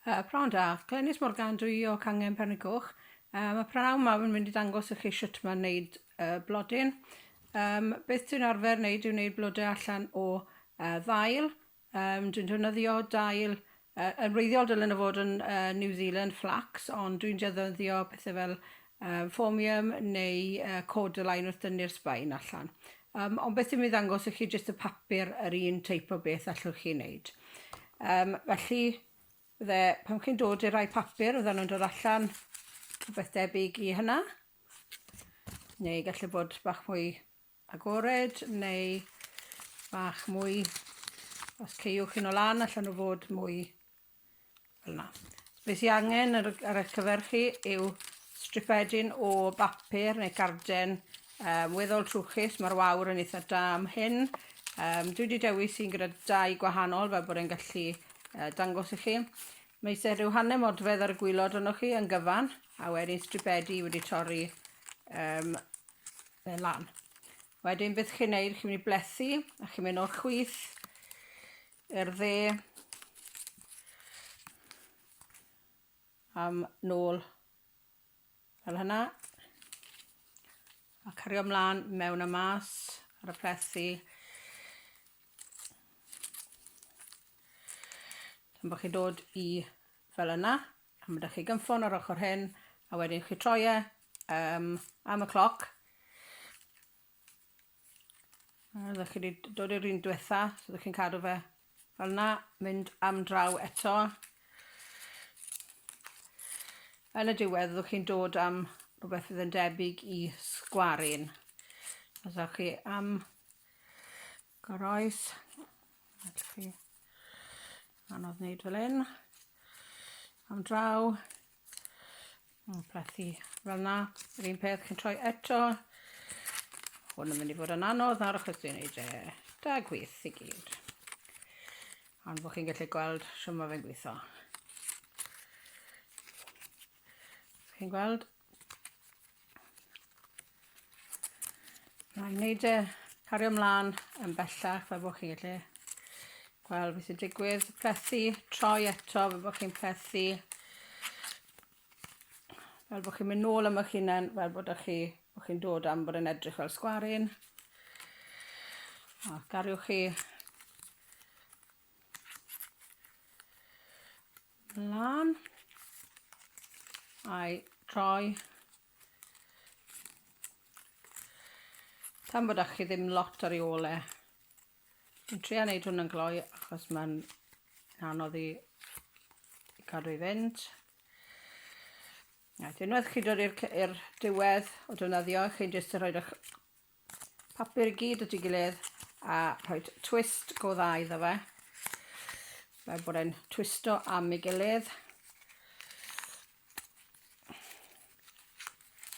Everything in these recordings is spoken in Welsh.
Pnawn da. Glenys Morgan dw i o Cangen Pernigoch. Yy ma' prynhawn 'ma fi'n mynd i ddangos i chi shwt ma' wneud yy blodyn. Yym beth dwi'n arfer wneud yw wneud blode allan o yy ddail. Yym dwi'n defnyddio dail yy yn wreiddiol dylen nhw fod yn yy New Zealand flax ond dwi'n defnyddio pethe fel Yym, Formium neu yy Cordyline wrth dynnu'r sbaen allan. Yym, ond beth dwi'n mynd i ddangos i chi jyst y papur yr un teip o beth allwch chi wneud. Yym, felly fydde pan chi'n dod i'r rhai papur fyddan nhw'n dod allan rhywbeth debyg i hynna. Neu gallu bod bach mwy agored neu bach mwy os ceiwch yn o lan allan nhw fod mwy Fel'na. Be sy angen ar y ar eich cyfer chi yw stripedyn o bapur neu garden um, weddol trwchus, mae'r wawr yn eitha da am hyn. Um, dwi wedi dewis un gyda dau gwahanol fel bod e'n gallu uh, dangos i chi. Mae eisiau rhyw hanner modfedd ar y gwylod yno chi yn gyfan, a wedyn stripedi wedi torri um, fe lan. Wedyn beth chi'n neud, chi'n mynd i blethu, a chi'n mynd o'r chwith Yr dde. Am nôl fel hynna. A cario mlaen mewn a mas ar y plethi. Yn bod chi'n dod i fel yna, a mae ydych chi gynffon o'r ochr hyn, a wedyn chi troi e um, am y cloc, A ydych chi wedi dod i'r un diwetha, so ydych chi'n cadw fe fel 'na, mynd am draw eto. Yn y diwedd ydych chi'n dod am rhywbeth fydd yn debyg i sgwaryn. Os ydych chi am Goroes. Felly, anodd wneud fel un. Am draw. Mae'n plethu fel na. Yr un peth chi'n troi eto. Hwn yn mynd i fod yn anodd ar achos dwi'n neud e da gwyth i gyd. Ond bod chi'n gallu gweld sy'n mae fe'n gweithio. Chi'n gweld? Mae'n wneud e cario ymlaen yn bellach fel bod chi gallu gweld beth sy'n digwydd. Plethu, troi eto fel bod chi'n plethu. Fel bod chi'n mynd nôl am eich hunain, fel bod chi, bod chi'n dod am bod yn edrych fel sgwarin. O, gariwch chi lan a'i troi tan bod â chi ddim lot ar ei ôl e. Dwi'n trio wneud hwn yn gloi achos mae'n anodd i cadw i fynd. Right, unwaith chi dod i'r diwedd o defnyddio, chi'n jyst yn rhoi'r papur i gyd at ei gilydd a rhoi twist go dda iddo fe. Fel bod e'n twisto am ei gilydd.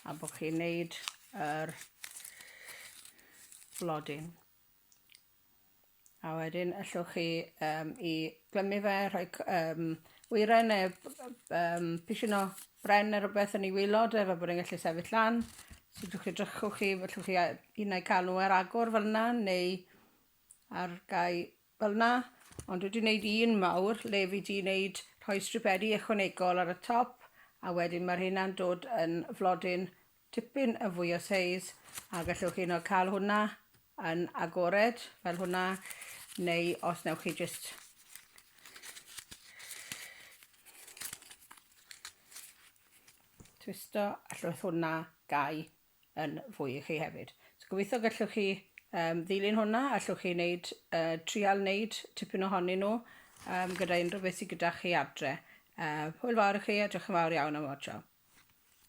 A bod chi'n neud yr blodyn. A wedyn allwch chi um, i glymu fe, rhoi um, wyren neu um, pisyn o bren neu rhywbeth yn ei wylod e, fe bod e'n gallu sefyll lan. So drwch chi drychwch chi, allwch chi un neu canw ar agor fel yna, neu ar gau fel yna. Ond wedi wneud un mawr le fi wedi wneud rhoi stripedi ychwanegol ar y top a wedyn mae'r hynna'n dod yn flodyn tipyn yn fwy o seis a gallwch hyd yn oed cael hwnna yn agored fel hwnna neu os newch chi jyst twisto allwch hwnna gau yn fwy i chi hefyd. So gobeithio gallwch chi um, ddilyn hwnna, allwch chi wneud, uh, trial wneud tipyn ohonyn nhw um, gyda unrhyw beth sydd gyda chi adre. Uh, hwyl fawr i chi a diolch yn fawr iawn am watcho.